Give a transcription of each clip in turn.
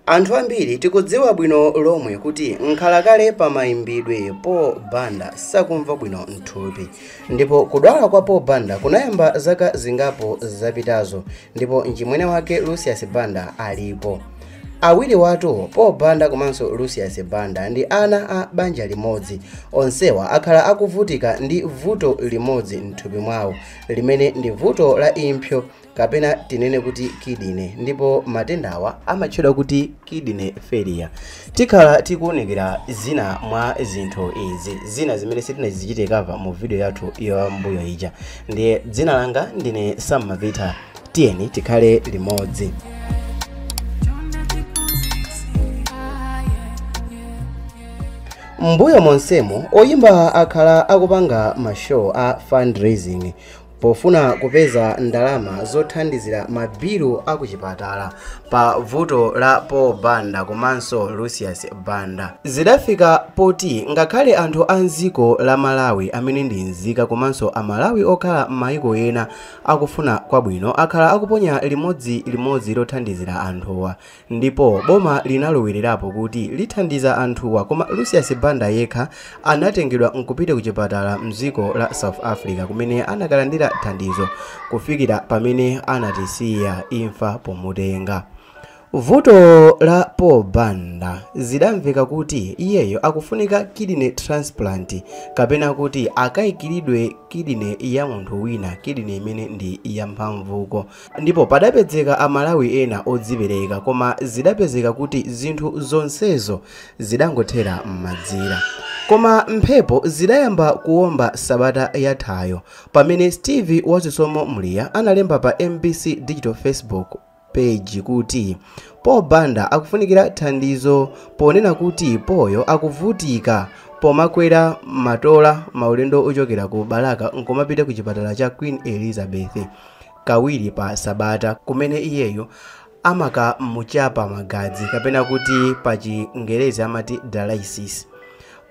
Anthu ambiri tikudziwa bwino lomwe kuti mkhalakale pa mayimbidwe Paul Banda sakumva bwino mthupi ndipo kudwala kwa Paul Banda kunayamba zaka zingapo zapitazo ndipo mchimwene wake Lucius Banda alipo. Awiriwatu Paul Banda komanso Lucius Banda ndi ana a banja limodzi. Onsewa akhala akuvutika ndi vuto limodzi mthupi mwawo limene ndi vuto la impsyo kapena tinene kuti kidney ndipo matendawa amatchedwa kuti kidney failure tikhala tikuunikira zina mwa zinthu izi zina zimene sitinazichite cover mu video yathu ya m'mbuyo ija ndiye dzina langa ndine Sam Mavita tiyeni tikhale limodzi m'mbuyo monsemu oyimba akhala akupanga mashow a fundraising pofuna kupeza ndalama zothandizira mabilu a kuchipatala pa vuto la paul banda komanso lucius banda zidafika poti ngakhale anthu a mdziko la malawi amene ndi nzika komanso amalawi okhala m'mayiko ena akufuna kwabwino akhala akuponya limodzi limodzi lothandizira anthuwa ndipo boma linalowererapo kuti lithandiza anthuwa koma lucius banda yekha anatengedwa nkupita ku chipatala mdziko la south africa kumene anakalandira thandizo kufikira pamene anatisiya imfa pomutenga vuto la paul banda zidamveka kuti iyeyo akufunika kidney transplant kapena kuti akayikiridwe kidney ya munthu wina kidney imene ndi yamphamvuko Ndipo padapezeka a Malawi ena odzipereka koma zidapezeka kuti zinthu zonsezo zidangothera m'madzi. Koma mphepo zidayamba kuomba sabata yathayo pamene Steve Wazisomo Muliya analemba pa MBC Digital Facebook page kuti Paul Banda akufunikira thandizo ponena kuti Paulyo akuvutika pomakwera matola maulendo ochokera ku Balaka nkumapita ku chipatala cha Queen Elizabeth. kawiri pa sabata kumene iyeyu amakamuchapa magazi kapena kuti pa chingerezi amati dialysis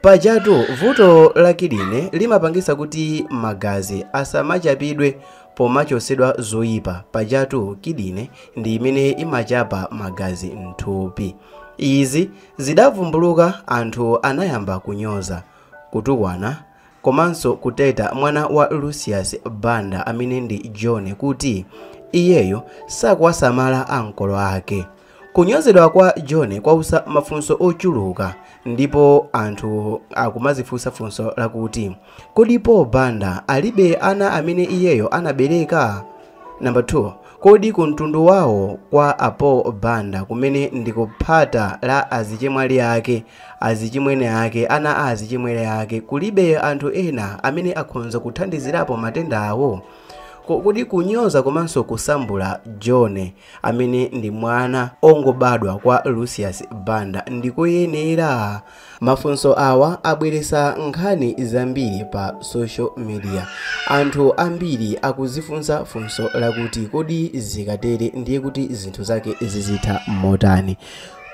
pajatu vuto la kidney limapangisa kuti magazi asamachapidwe pomachosedwa zoyipa pajatu kidney ndi imene imachapa magazi mthupi izi zitavumbuluka anthu anayamba kunyoza kutukwana komanso kutheta mwana wa Lucius Banda amene ndi John kuti iyeyo sakuwasamala ankolo ake. Kunyozedwa kwa John kwausa mafunso ochuluka ndipo anthu akumazifunsa funso lakuti kodi Paul Banda alibe ana amene iyeyo anabereka? Number 2, Kodi kumtundu wawo kwa a Paul Banda kumene ndi ku phata la azichemwali ake, azichimwene ake, ana a azichimwene ake kulibe anthu ena amene akhonza kuthandizirapo matenda awo? Kodi kunyoza komanso kusambula John amene ndi mwana ongobadwa kwa Lucius Banda ndikoyenera? Mafunso awa abweretsa nkhani zambiri pa social media. Anthu ambiri akudzifunsa funso lakuti kodi zikatere ndiye kuti zinthu zake zizitha motani?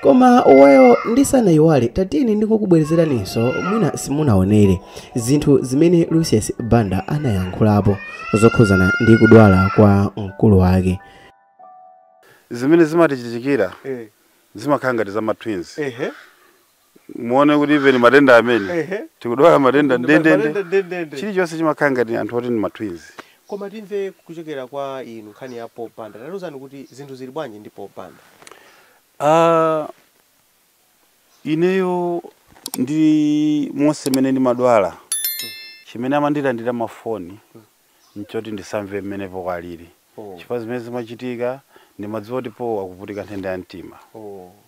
Koma well ndisanayiwale tatiyeni ndikukubwerezeraninso mwina simunaonere zinthu zimene Lucius Banda anayankhulapo zokhuzana ndi kudwala kwa mkulu wake. Zimene zimatichitikira Eh, zimakhala ngati za ma twins ehe muone kuti even matenda amene ehe tikudwala matenda ndendende chilichonse chimakhala ngati anthu oti ndi ma twins koma timve kuchokera kwa inu nkhani ya Paul Banda tatiuzani kuti zinthu zili bwanji ndi Paul Banda Ah, ineyo ndi monse mene ndimadwala chimene amandilandira mafoni nchoti ndisamve mmene Paul alili chifukwa zimene zimachitika ndimadziwa kuti Paul akuvutika nthenda ya mtima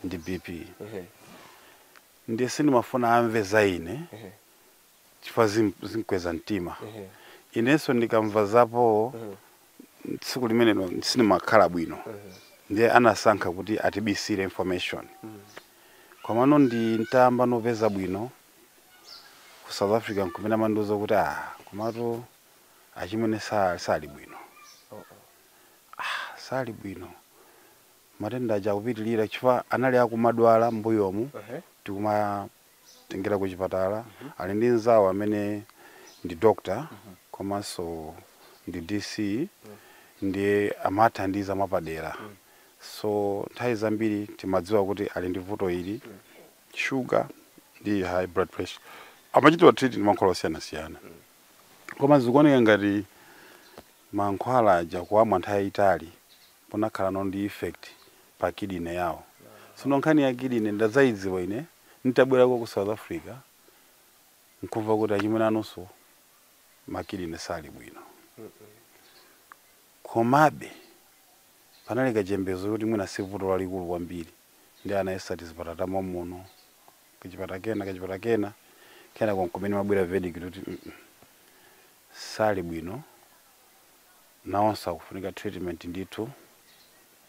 ndi BP ndiye sindimafuna amve za ine chifukwa zim- zimkweza mtima inenso ndikamva za Paul tsiku limenelo sindimakhala bwino ndiye anasankha kuti atibisire information komano nditayamba no kupeza bwino ku south africa nkumene amandiuza kuti ah komatu achimwene sa- sali bwino ah, sali bwino matenda aja akupitirira chifukwa anali akumadwala m'mbuyomu Ehe. tikumatengera ku chipatala ali ndi mzawo amene ndi doctor komanso ndi dc ndiye amathandiza mwapadera so nthawi zambiri timadziwa kuti ali ndi vuto ili shuga ndi high blood pressure amachitidwa treat ndi mankhwala osiyanasiyana koma zikuoneka ngati mankhwala aja kuwamwa nthawi yayitali kunakhala no ndi effect pa kidney yawo sono nkhani ya kidney ndadzayidziwa ine nitabwerako ku south africa nkumva kuti achimwene anunso makidney sali bwino komabe Panali kachiyembekezo kuti mwina si vuto lalikulu kwambiri. Ndiye anayesa tizipatala ta mommuno, kachipatala kena, kachipatala kena, kenako n'kumene imabwera verdict yoti mm sali bwino, nawonso akufunika treatment ndithu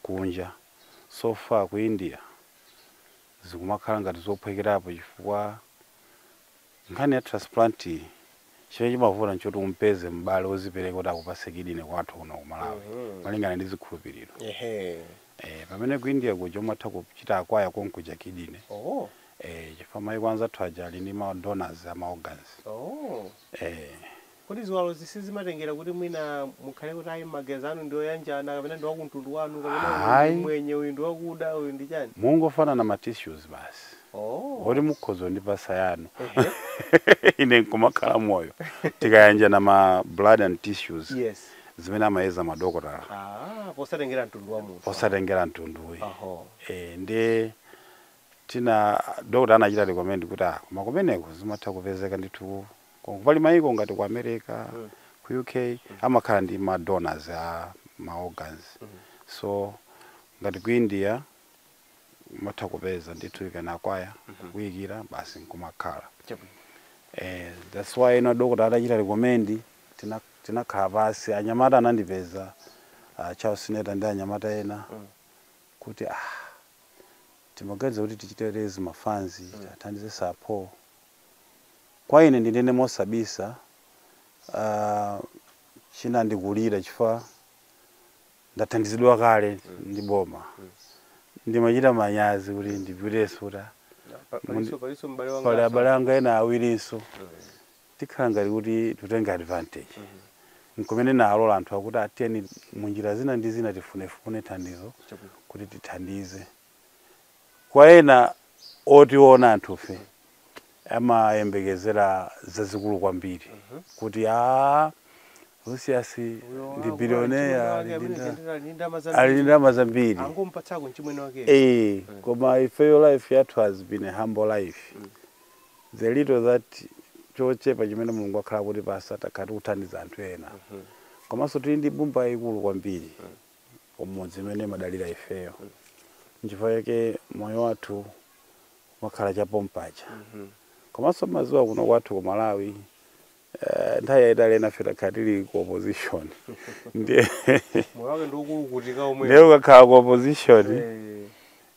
kunja. So far ku India zikumakhala ngati zophwekerapo chifukwa. Nkhani ya transplant chimene chimavuta nchoti umpeze m'bale wozipereka kuti akupatse kidney kwathu kuno ku Malawi malingana ndi zikhulupiriro. Eeh pamene ku India kuja umatha kuchita acquire konkuja kidney. Eeh chifukwa mayiko anzathu aja ali ndi ma donors a ma organs. Eeh. Kodi ziwalozi sizimatengera kuti mwina mukhale kuti ayi magazi anu ndi oyanjana kapena ndi wakumtundu wanu kapena uyu ndi Ayi. mmwenye uyu ndi wakuda uyu ndi chani? Mungofanana ma tissues basi. Oh. Oti mukhoza kundipatsa yanu. Ehe. Ine nkumakhala moyo. Tikayanjana ma blood and tissues Yes. zimene amayeza madokotala Ah, posatengera mtundu wa munthu. osatengera mtundu ayi. Oho. Eh, ndiye Tina doctor anachita recommend kuti ah koma kumeneko zimatha kupezeka ndithu ku- pali mayiko ngati ku America ku UK amakhala ndi ma donors a ma organs so ngati ku India umatha kupeza ndithu ukana acquire kuyikira basi nkumakhala Chabwino. eh that's why ino doctor atachita recommend tina tinakhala pasi anyamata anandipeza uh, Charles Sineta ndi anyamata ena kuti ah timaganiza kuti tichite raise ma funds tithandize Sir Paul. Kwa ine ndinene mosabisa ah, chinandikulira chifukwa ndathandizidwa kale ndi boma. Ndimachita manyazi kuti ndipitenso kuti ah, Paliso paliso m'bale wanga. pali abale anga ena awirinso tikhala ngati kuti titenge advantage nkumene ndinalola anthu akuti ah tiyeni munjira zina ndi zina tifunefune thandizo kuti tithandize kwa ena otiona anthufe amayembekezera zazikulu kwambiri kuti a Lucius ndi billionaire ali ndi nda- ali ndi ndalama zambiri angompatsako mchimwene wake Eh, koma ifeyo life yathu has been a humble life the little that chochepa chimene mulungu wakhala akutipasa takhala tikuthandiza anthu ena komanso tili ndi mbumba yayikulu kwambiri kumudzi imene imadalira ifeyo nchifukwa chake moyo wathu umakhala chapompaja komanso mmadziwa kuno kwathu ku malawi eh, nthawi yayitali enafe takhala tili ku opposition ndiye moyo wake ndiwokulukutika omwe ndiye ukakhala ku opposition Eh,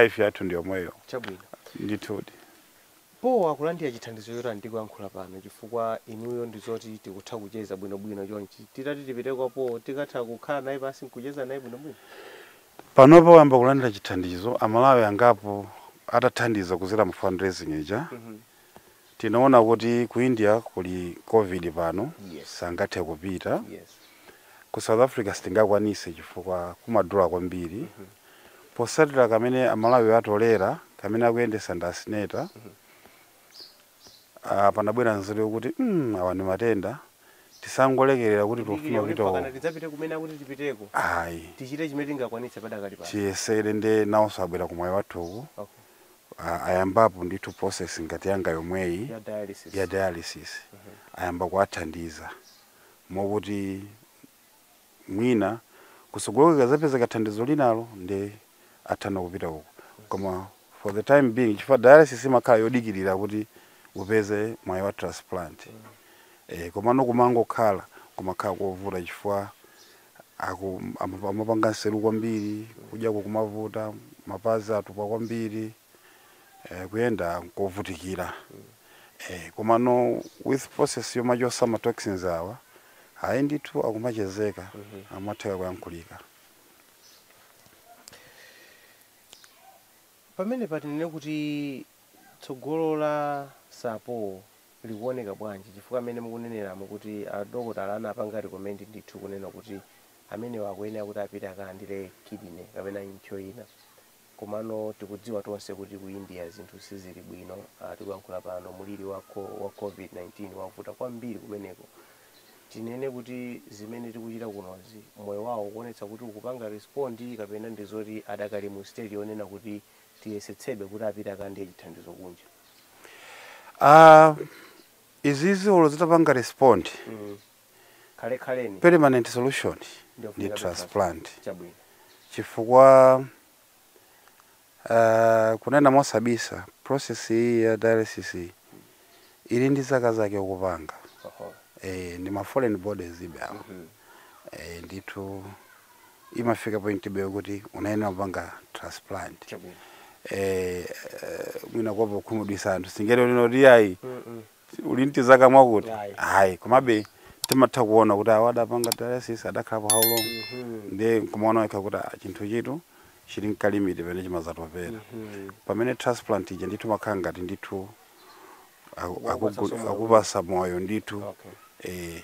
life yathu ndiyomweyo Chabwino. ndithudi. Paul akulandira chithandizo chotani tikuyankhula pano chifukwa inuyo ndizoti tikutha kucheza bwino bwino chonchi titati tipite kwa Paul tikatha kukhala naye pansi nkucheza naye bwino bwino? Panopa wayamba kulandira chithandizo amalawi angapo atathandiza kuzera mu fundraising ija Mhm. tinaona kuti ku india kuli covid pano sangathe kupita yes ku south africa sitingakwanise chifukwa kumadula kwambiri posatira ka mmene amalawi atolera ka mmene akuyendesa ndi a Sineta ah, panabwera nzeru yokuti mm, awa ndi matenda tisangolekerera kuti tikufuna kupita uko tidzapite kumene akuti tipiteko ayi tichite chimene tingakwanitse padakali pano tiyesere nde nawonso abwera ku Mwaiwathuku okay a ayambapo ndithu process ngati yanga yomweyi ya dialysis, ya dialysis mm -hmm. ayamba kuwathandiza mokuti mwina kutsogoloku kukazapezeka thandizo linalo nde atha kupita uko koma for the time being chifukwa dialysis imakhala yodikirira kuti upeze mwayi wa transplant mm -hmm. eh, komano kumangokhala kumakhala kovuta chifukwa Aku, amap- amapanga nseru kwambiri kudya kukumavuta mapazi atupa kwambiri eh, kuyenda nkovutikira eh, komano with process yomachosa ma toxins awa ayi ndithu akumachezeka akumatheka kuyankhulika pamene patinene kuti Tsogolo la Sapo likuoneka bwanji chifukwa mmene mukuneneramu kuti a dokotala anapanga recommend ndithu kunena kuti amenewa akuyenera kuti apite akalandire kidney kapena impsyo ina komano tikudziwa tonse kuti ku India zinthu sizili bwino tikuyankhula pano mliri wa wa Covid-19 wavuta kwambiri kumeneko tinene kuti zimene tikuchita kunozi moyo wawo ukuonetsa kuti ukupanga respond kapena ndi zoti adakali mu stage yonena kuti tiyesetsebe kuti apite akalandire chithandizo kunja Ah, izizi olo zitapanga respond mm. komabe permanent solution ndi kupanga transplant chabwino chifukwa ah, kunena mosabisa process iyi ya dialysis iyi Ili ndi zaka zake ukupanga Oho. eh, ndi ma foreign bodies be awo Mhm. eh, ndithu imafika point be kuti umayenera kupanga transplant Chabwino. eh, eh, mwina kuopa kukhumudwitsa anthu sindinena kuti ayi Mm-mm. ili ndi zaka mwakuti Ayi. ayi komabe timatha kuona kuti awa adapanga dialysis adakhalapo how long Mhm. ndiye nkumaona wekha kuti ah, chinthu chitu chili ndi ka limit pamene chimazatopera Mhm. pamene transplant ija ndithu imakhala ngati ndithu Aku- Wapatsanso akugul- moyo. akupasa moyo ndithu okay eh,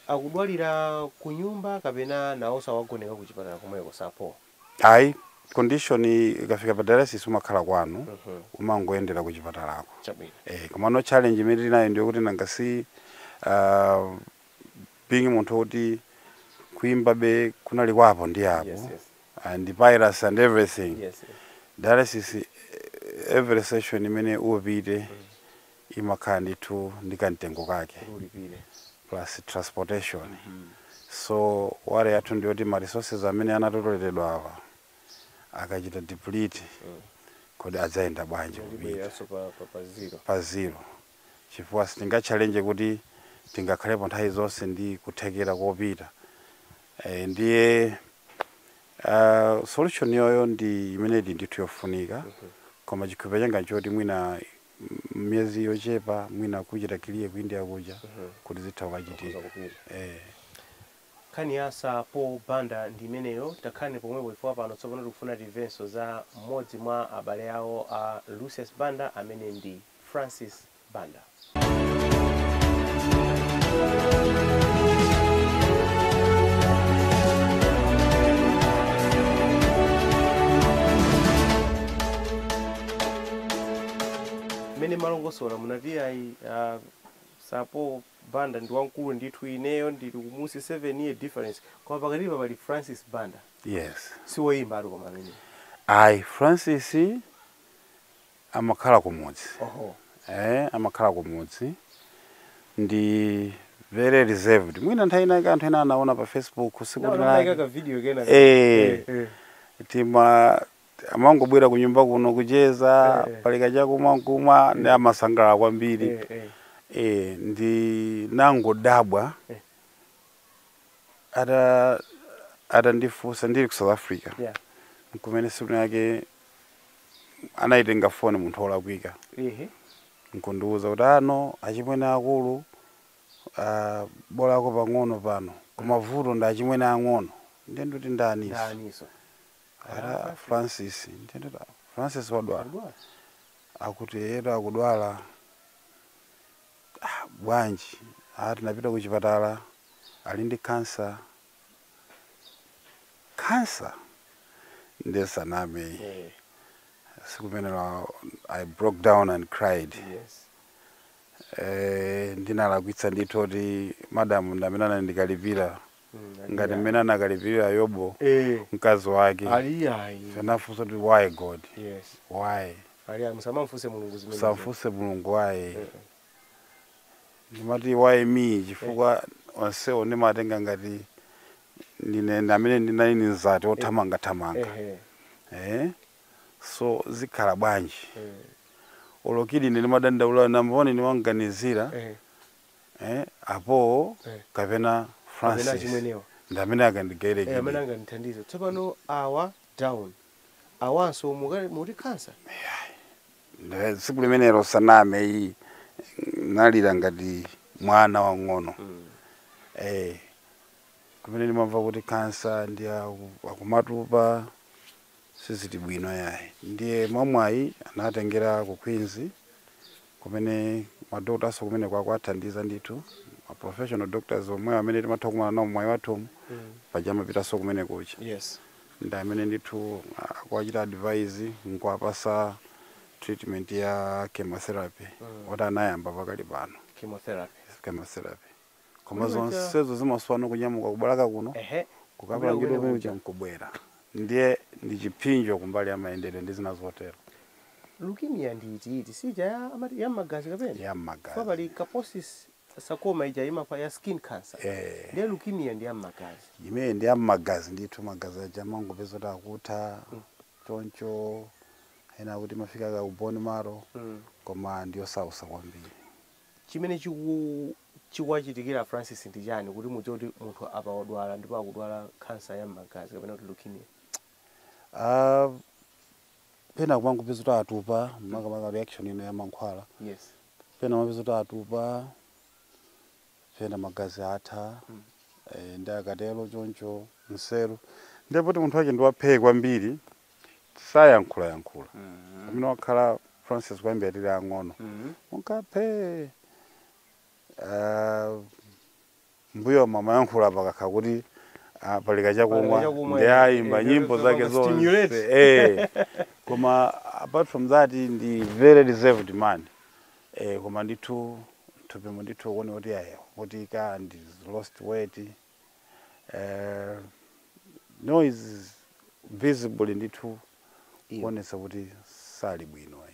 akudwalira ku nyumba kapena nawonso awagoneka ku chipatala komweko Sapo ayi condition ikafika pa dialysis umakhala kwanu Mhm. umangoyendera ku chipatalako chabwino eh, komano challenge imene tinayo ndiyo kuti nanga si uh, being munthu woti kuimbabe kunali kwa apo ndi apo yes yes and piracy and everything yes sir. dialysis eh, every session imene upita imakhala ndithu ndi kamtengo kake ulipire plus transportation so worry yathu ndiyoti ma resources amene anatoleledwa awa akachita deplete kodi adzayenda bwanji kupita ndibwereranso pa pa pa zero pa zero chifukwa sitinga challenge kuti tingakhalepo nthawi zonse ndi kuthekera kopita e, ndiye uh, solution iyoyo ndi imene ili ndithu yofunika koma chikhulupiriro changa nchoti mwina m- miyezi yochepa mwina kuchita clear ku india kuja kuti zitha kuchitika eh. nkhani ya sir paul banda ndi imeneyo takhalani pomwepo chifukwa pano tsopano tikufuna timvenso za mmodzi mwa abale awo a lucius banda amene ndi Francis Banda. mmene mumalongosola munati ayi ah, sir paul banda ndi wamkulu ndithu ineyo ndili kumunsi 7 year difference koma pakatipa pali francis banda yes si woyimbatu koma amene ayi francis amakhala kumudzi oho eh, amakhala kumudzi ndi very reserved mwina nthawi inayake anthu ena anaona pa facebook tsiku Naona linalake. munaika ka video kena ka- Eh. eh. tima amangobwera kunyumba kuno kucheza Eh, eh. pali kachakumwa nkumwa ndi amasangalala kwambiri Eh, eh. eh, ndinangodabwa Eh. ata atandifunsa ndili ku south africa yeah. nkumene tsiku lake anayitenga foni munthu olakwika Ehe. nkundiuza kuti anu achimwene akulu ah, bolako pang'ono pano koma vuto ndi achimwene ang'ono ndiye ndikuti ndaninso Ndaninso. ati francis ndiye ndikuti "Ah, francis wadwala Wadwala? akuti eyetu akudwala Bwanji? Ah, tinapita kuchipatala. Ali ndi khansa. Khansa? Ndisaname. Tsiku limenelo, I broke down and cried. Eh, ndinalakwitsa ndithu moti madam ndamene anandikalipira. ngati mmene anakalipirira yobo eh mkazi wake ali ayi anafunsa kuti why god yes why ali ayi musamamfunse mulungu zimenezo musamfunse mulungu why ndimati why me chifukwa onsewo ndimatenga ngati ndine ndi amene ndinali ndi mzati othamangathamanga ehe eh? so zikhala bwanji eh olo kid ine ndimadandaula nambo ndimamuganizira ehe eh, apo Eh. kapena francis achimwenewa. ndi amene akanandigaira Eh, amene kidney akanandithandiza tsopano ali down awanso muka- mukuti khansa Nde tsiku limenelo sindiname ayi ndinalira ngati mwana wang'ono eh, kumene ndikumva kuti kansa ndiye aku- akumatupa sizili bwino yayi ndiye mwamwayi anatengeredwa ku queens kumene madokotanso kumeneko akuwathandiza ndithu ma professional doctors omwewo amene timatha kumana nawo mwayi wathu womwe paja amapitanso kumene kuja yes ndi amene ndithu akuwachita advise nkuwapasa treatment ya chemotherapy oti anayamba pakali pano chemotherapy chemotherapy koma zonsezo zimasowa anyamuke ku Balaka kuno kukapangidwa chemo nkubwera ndiye ndi chipsinjo kumbali ya mayendedwe ndi zina zotero leukemia ndi iti iti sija ya amati ya mmagazi kapena ya mmagazi koma pali Kaposi's sarcoma ija imakhala ya skin cancer eh ndiye leukemia ndi ya mmagazi imene ndi ya mmagazi ndithu magazi aja amangopeza kuti akutha mm. choncho ena akuti imafika ku bone marrow mm. koma ndiyosausa kwambiri Chimene chiku chikuwachitikira a Francis ndi chani kuti mudziwe kuti munthu apa odwala ndipo akudwala khansa ya mmagazi kapena kuti leukemia? Aaa pena kumangopeza kuti atupa makamaka reaction ina ya mankhwala Yes. pena umapeza kuti atupa pena magazi atha eh, ndiye akatero choncho nseru ndiye poti munthu wake ndi waphee kwambiri sayankhula yankhula Mhm. amene wakhala francis kuyambira tili ang'ono Mhm. m'mkaphe ah, mbuyomu amayankhula pakakhala kuti ah, pali kachakumwa Pali kachakumwa, ndiye eh, ayimba eh, nyimbo eh, zake zonse stimulate. eh. koma apart from that ndi very reserved man eh, koma ndithu mthupimo ndithu kuoneka kuti ayi apa the guy lost weight eh, now it's visible ndithu Iyo. kuonetsa kuti sali bwino eh.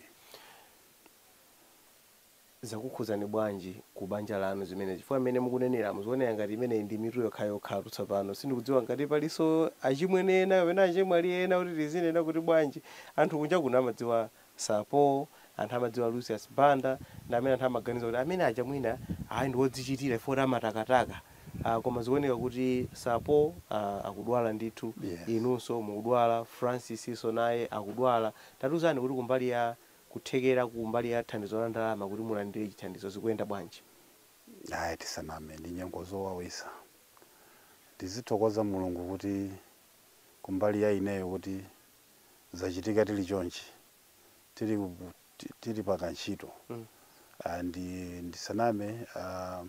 zakukhudzani bwanji ku banja lanu zimenezi chifukwa mmene mukunenera mukuoneka ngati imeneyi ndi mitu yokhayokhatu tsopano sindikudziwa ngati palinso achimwene ena kapena achemwali ena kuti tizinena kuti bwanji anthu kunja kuno amadziwa Sapo, anthu amadziwa Lucius Banda, ndi amene anthu amaganiza kuti amene aja mwina aaa ndi wodzichitira chifukwa kuti amatakataka, ah, koma zikuoneka kuti Sapo, ah, akudwala ndithu, Yes. inunso mukudwala, Francis-nso naye akudwala, tatiuzani kuti kumbali ya kuthekera kumbali ya thandizo la ndalama kuti mulandire chithandizo zikuyenda bwanji? Ayi, tisaname, ndi nyengo zowawitsa. Tizithokoza Mulungu kuti kumbali ya ineyo kuti zachitika tili chonchi tili, ku- ti- tili pa kantchito Mm. Ah, ndi ndisaname ah,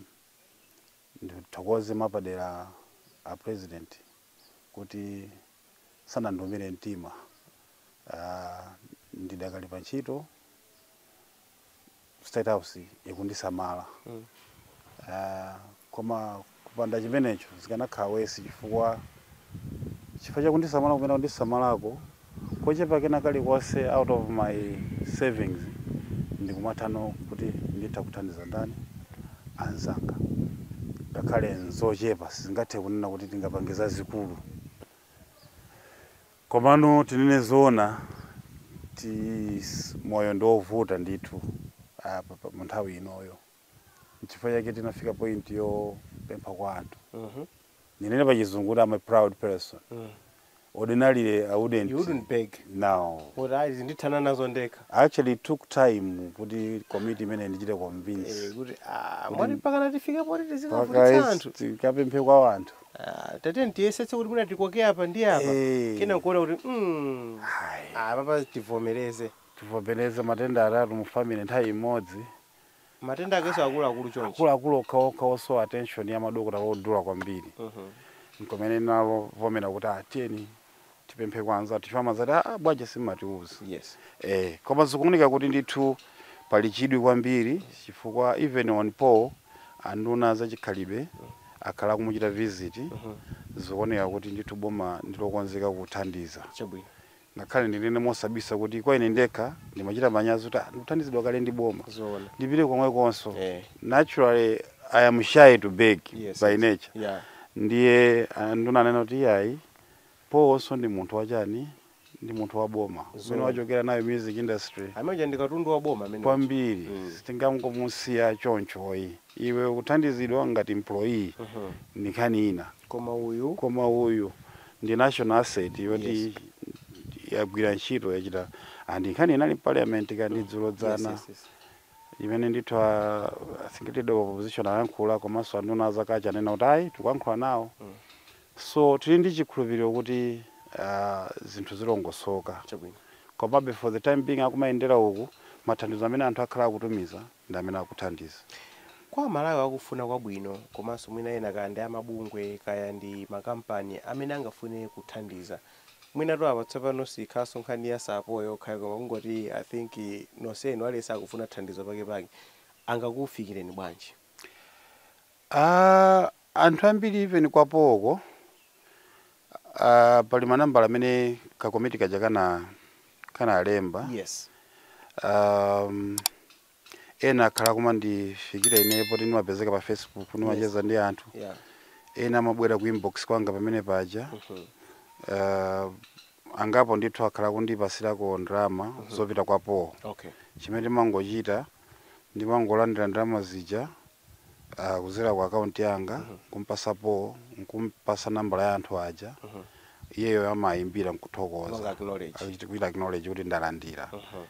ndithokoze mapadera a president kuti sanandiumile mtima Ah, ndidakali pa ntchito state house ikundisamala Ah, koma kupanda chimenecho zikanakhala wesi chifukwa chifukwa chakundisamala kumene kundisamalako kochepa kena kalikonse out of my savings ndikumatha no kuti nditha kuthandiza ndani anzanga ngakhale nzochepa sitingathe kunena kuti tingapange zazikulu Komano tinene zoona kuti moyo ndi ovuta ndithu apa pa- mu nthawi inoyo nchifukwa chake tinafika point yopempha kwa anthu ndinene pa chizungu kuti I'm a proud person ordinarily I wouldn't wouldn't beg. No Kuti ayi ndithana nazo ndekha. actually it took time kuti committee imeneyi indichite Eh, convince kuti ah, mwati mpaka na tifike poti tizikavutitsa anthu. tikapemphe kwa anthu Ah, tatiyeni tiyesetse kuti mwina tikoke apa ndi apa Eh. kenaka nkuona kuti mm, Hai. apa pa tivomereze tivomereze matenda atatu mu family nthawi imodzi matenda akeso akuluakulu chonchi akuluakulu okhaokha osowa attention ya madokota odula kwambiri Mhm. nkomene ndinavomera kuti ah tiyeni tipemphe kwa anzathu chifukwa amazati a ah, bwanji simumatiuza yes. eh, koma zikuoneka kuti ndithu pali chidwi kwambiri chifukwa even on Paul anduna zachikhalidwe akhala akumuchita visit mm -hmm. zikuoneka kuti ndithu boma ndilokonzeka kuthandiza chabwino ngakhale ndinene mosabisa kuti kwa ine ndekha ndimachita manyazi kuti ah, ndikuthandizidwa kale ndi boma ndipite komwe konso eh. naturally i am shy to beg yes, by nature yeah. ndiye ah, nduna anena kuti iyayi Paulnso ndi munthu wa chani? Ndi munthu wa boma. Kumene Zoona. wachokera nayo music industry Amene uja ndi katundu wa boma amene uja. kwambiri Mm. sitingangomusiya chonchoyi. Iwe ukuthandizidwa ngati employee Mhm. ndi nkhani ina. Koma uyu Koma uyu ndi national asset yoti Yes. yagwira ntchito yachita and nkhani inali mparliament kaya ndi dzulo yes, dzana yes, yes. imene ndithu a I think leader of opposition ayankhula komanso anduna a Kazako anena kuti ayi tikuyankhula nawo Mm. So tili ndi chikhulupiriro kuti zinthu zilongosoka. Chabwino. Komabe for the time being akumayendera uku, mathandizo amene anthu akhala akutumiza ndi amene akuthandiza. Kwa Amalawi akufuna kwabwino komanso mwina ena kaya ndi a mabungwe kaya ndi makampani amene angafune kuthandiza, mwinatu apa tsopano siyikhalanso nkhani ya Sir Paul yokha ayi koma kungoti I think nonsenu aliyense akufuna thandizo pakepake, angakufikireni bwanji? Aaah anthu ambiri even kwa Paul ko aah pali manambala amene ka komiti kaja kanakanalemba Yes. aah ena akhala akumandifikira ineyo poti ndimapezeka pa facebook Yes. ndimacheza ndi anthu Yeah. ena amabwera ku inbox kwanga pamene paja Mhm. aah angapo ndithu akhala akundipasirako ndalama Mhm. zopita kwa Paul Okay. chimene ndimangochita ndimangolandira ndalama zija uh, kuzera ku akaunti yanga kumpasa Paul nkumpasa nambala ya anthu aja iyeyo amayimbira Kupanga nkuthokoza acknowledge. Akuchita- kuchita acknowledge kuti ndalandira Mhm.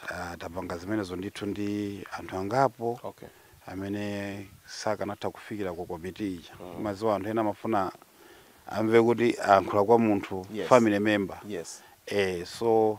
Ah, tapanga zimenezo ndithu ndi anthu angapo Okay. amene sakanatha kufikira ku komiti ija maziwa anthu ena amafuna amve kuti ayankhula kwa munthu Yes. family member Yes. eh so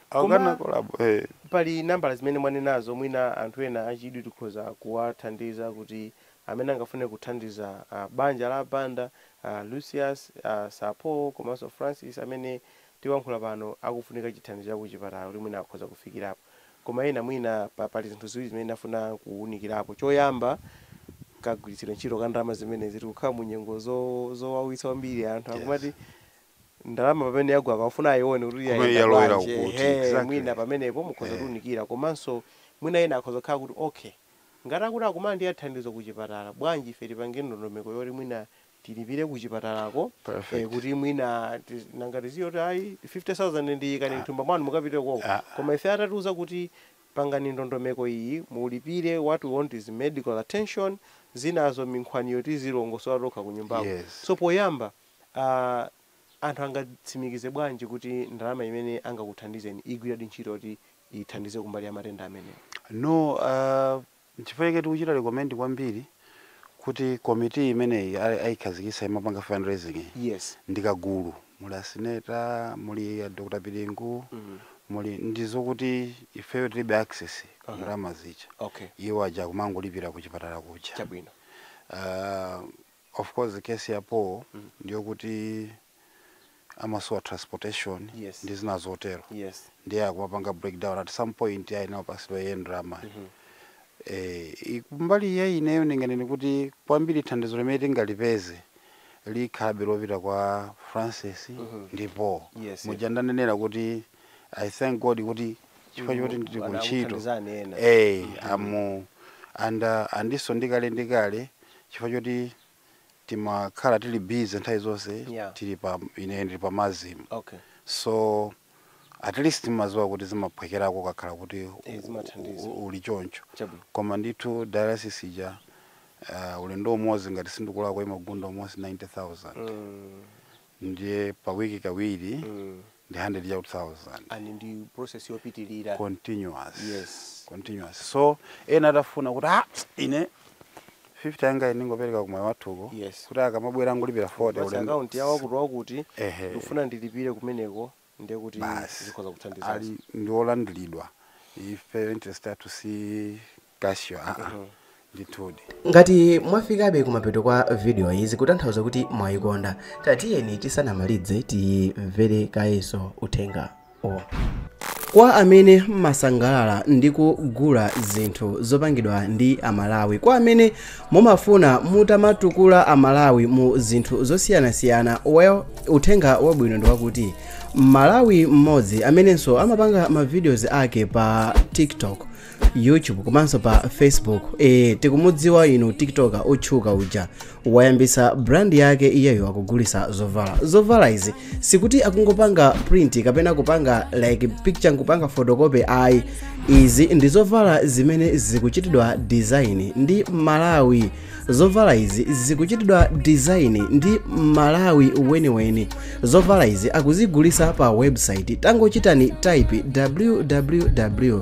Koma pali nambala zimene mwanenazo, mwina anthu ena achidwi tikhoza kuwathandiza kuti amene angafune kuthandiza banja la Banda, a Lucius, a Sir Paul komanso Francis amene tikuyankhula pano akufunika chithandizo cha kuchipatala kuti mwina akhoza kufikirapo. Koma ena mwina pali zinthu ziwiri zimene ndafuna kuwunikirapo. Choyamba, kagwiritsidwe ntchito ka ndalama zimenezi. Tikukhala mu nyengo zowawitsa kwambiri, anthu akumati ndalama pamene yagwa akafuna ayione kuti Komwe yayenda yalowera bwanji kuti, ehe exactly. mwina pamenepo mukhoza Eh. kutiunikira komanso mwina ena akhoza kukhala kuti okay ngati akuti akumalandira thandizo kuchipatala bwanji ife tipange ndondomeko yoti mwina tilipire kuchipatalako eh, Perfect. kuti mwina ti- nanga tiziti kuti ayi 50000 muyike mthumba mwanu mukapite koko Ah. koma ife atatiuza kuti pangani ndondomeko iyi mulipire what we want is medical attention zinazo minkhwaniyo tizilongosola tokha kunyumbako Yes. so poyamba Anthu angatsimikize bwanji kuti ndalama imene angakuthandizeni igwiradi ntchito yoti ithandize kumbali ya matenda amenewa? No. Nchifukwa chake tikuchita recommend kwambiri kuti committee imeneyi aikhazikitsa imapanga fundraising iyi Yes. ndi kagulu. Muli a Sineta, muli a Dr. Pilingu, muli ndizokuti ifeyo tilibe access ku ndalama zija. Okay. Iwo aja akumangolipira kuchipatala kuja. Chabwino. Ah, Of course case ya Paul mm. ndiyokuti amasowa transportation yes. ndi zina zotero yes. ndiye akumapanga breakdown at some point ayenera kupatsidwa iye ndalama mm -hmm. Eh, kumbali ya ineyo ndinganene kuti kwambiri thandizo limene tingalipeze likhalabe lopita kwa Francis mm -hmm. ndipo yes, muja ndanenera kuti i thank god kuti chifukwa choti ndili ku ntchito eh amu and uh, andiso ndikale ndikale chifukwa choti timakhala tili busy nthawi zonse Yeah. tili pa ine ndili pa MASM okay so at least timaziwa kuti zimaphwekerako kakhala kuti u- Eh, zimathandiza. u- uli choncho Chabwino. koma ndithu dialysis ija uh, ulendo umodzi ngati sindikulakwa imagunda almost 90000 mm. ndiye pa wiki kawiri mm. ndi 100 chakuti thousand and ndi process yopitilira continuous Yes. continuous so ena atafuna kuti ah ine 50 yanga ine ndingopereka kwa mayi wathuko Yes. kuti akamabwera angolipira 40 Basi ulendo. account yawo kuti wakuti Ehe. ndikufuna ndilipire kumeneko ndiye kuti Basi. zikhoza kuthandiza ali ndiolandiridwa ife interest yathu si cash yo aa ndithudi. Ngati mwafikabe kumapeto kwa video yi zikutanthauza kuti mwayikonda, tatiyeni tisanamalidze timvere kayenso uthenga uwu. Kwa amene mmasangalala ndi kugula zinthu zopangidwa ndi a Malawi, kwa amene mumafuna mutamatukula a Malawi mu zinthu zosiyanasiyana, well uthenga wabwino ndi wakuti Mmalawi mmodzi amenenso amapanga ma videos ake pa Tik Tok, youtube komanso pa facebook e, tikumudziwa inu tiktoka otchuka uja wayambisa brand yake iyeyo akugulisa zovala zovala izi sikuti akungopanga print kapena kupanga like picture nkupanga photocopy ayi izi ndi zovala zimene zikuchitidwa design ndi mmalawi zovala izi zikuchitidwa design ndi mmalawi weniweni zovala izi akuzigulisa pa website tangochitani type www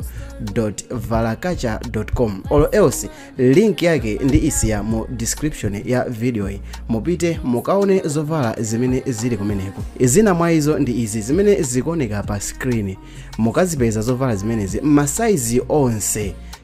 valakacha com or else link yake ndiisiya mu description ya video yi mupite mukaone zovala zimene zili kumeneko zina mwa izo ndi izi zimene zikuoneka pa screen mukazipeza zovala zimenezi masaizi onse